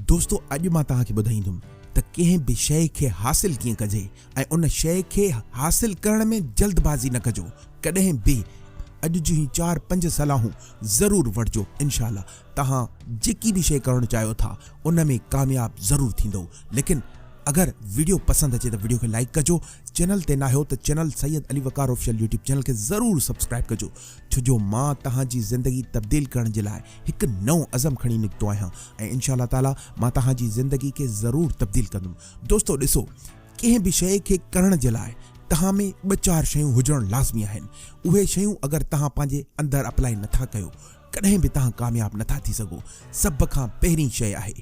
دوستو اڄ مان توهان کي ٻڌائيندم ته ڪنهن به شيء کي حاصل ڪيئن ڪجي ۽ ان شيء کي حاصل ڪرڻ ۾ جلد بازي نه ڪجو ڪڏهن به اڄ جون هي چار پنج صلاحون ضرور وٺجو انشاء الله توهان جيڪي به شيء ڪرڻ چاهيو ٿا ان ۾ ڪامياب ضرور ٿيندؤ ليڪن اگر ويڊيو پسند اچي ته ويڊيو کي لائيڪ ڪجو چينل تي ناهيو ته channel Syed Ali Waqar official YouTube channel کي ضرور سبسڪرائيب ڪجو. ڇو جو مان توهان جي زندگي تبديل ڪرڻ جي لاء هڪ نئون عزم کڻي نڪتو آهيان ۽ انشاء الله تعالٰي مان توهان جي زندگي کي ضرور تبديل ڪندم دوستو ڏسو ڪنهن به شيء کي ڪرڻ جي لاء توهان ۾ ٻه چار شيون هجڻ لازمي آهن اهي شيون اگر توهان پنهنجي اندر اپلائي نٿا ڪيو ڪڏهن به توهان ڪامياب نٿا ٿي سگهو سڀ کان پهرين شيء آهي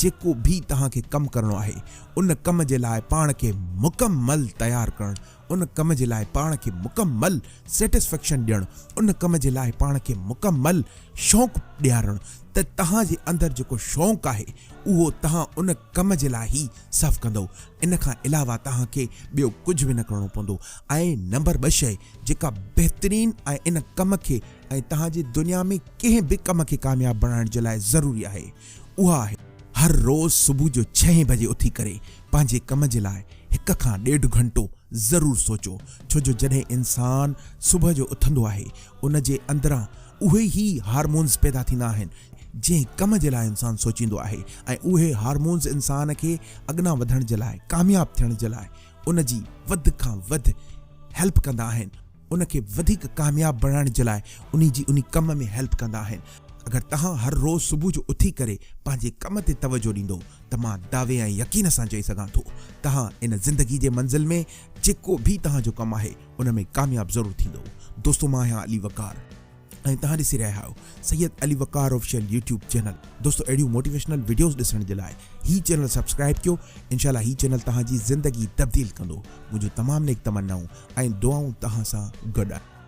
جيڪو به توهان کي ڪم ڪرڻو آهي ان ڪم جي لاء پاڻ کي مڪمل تيار ڪرڻ ان ڪم جي لاء پاڻ کي مڪمل Satisfaction ڏيڻ، ان ڪم جي لاء پاڻ کي مڪمل شوق ڏيارڻ ته توهان جي اندر جيڪو شوق آهي اهو توهان ان ڪم جي لاء ئي صرف ڪندؤ ان کان علاوه توهان کي ٻيو ڪجهه به نه ڪرڻو پوندو ۽ نمبر ٻه شيء جيڪا بهترين ۽ ان ڪم کي ۽ توهان جي دنيا ۾ ڪنهن به ڪم کي ڪامياب بڻائڻ جي لاء ضروري آهي اها آهي هر روز صبح جو ڇهين بجي اٿي ڪري پنهنجي ڪم جي لاء هڪ کان ڏيڍ گهنٽو ضرور سوچو ڇو جو جڏهن انسان صبح جو اٿندو آهي ان جي اندران اهي ئي هارمونز پيدا ٿيندا آهن جنهن ڪم جي لاء انسان سوچيندو آهي ۽ اهي هارمونز انسان کي اڳنا وڌڻ جي لاء ڪامياب ٿيڻ جي لاء ان جي وڌ کان وڌ هيلپ ڪندا آهن. ان کي وڌيڪ ڪامياب بڻائڻ جي لاء انهي جي انهي ڪم ۾ هيلپ ڪندا آهن. اگر توهان هر روز صبح جو اٿي ڪري پنهنجي ڪم تي توجهه ڏيندو ته مان دعوي ۽ يقين سان چئي سگهان ٿو توهان ان زندگي جي منزل ۾ جيڪو به توهان جو ڪم آهي ان ۾ ڪامياب ضرور ٿيندو دوستو مان آهيان علي وقار. ۽ توهان ڏسي رهيا آهيو Syed Ali Waqar official YouTube channel دوستو اهڙيون موٽيويشنل وڊيوز ڏسڻ جي لاء هي چينل سبسڪرائب ڪيو انشاء الله هي چينل توهان جي زندگي تبديل ڪندو منهنجون تمام نيڪ تمنائون ۽ دعائون توهان سان گڏ آهن.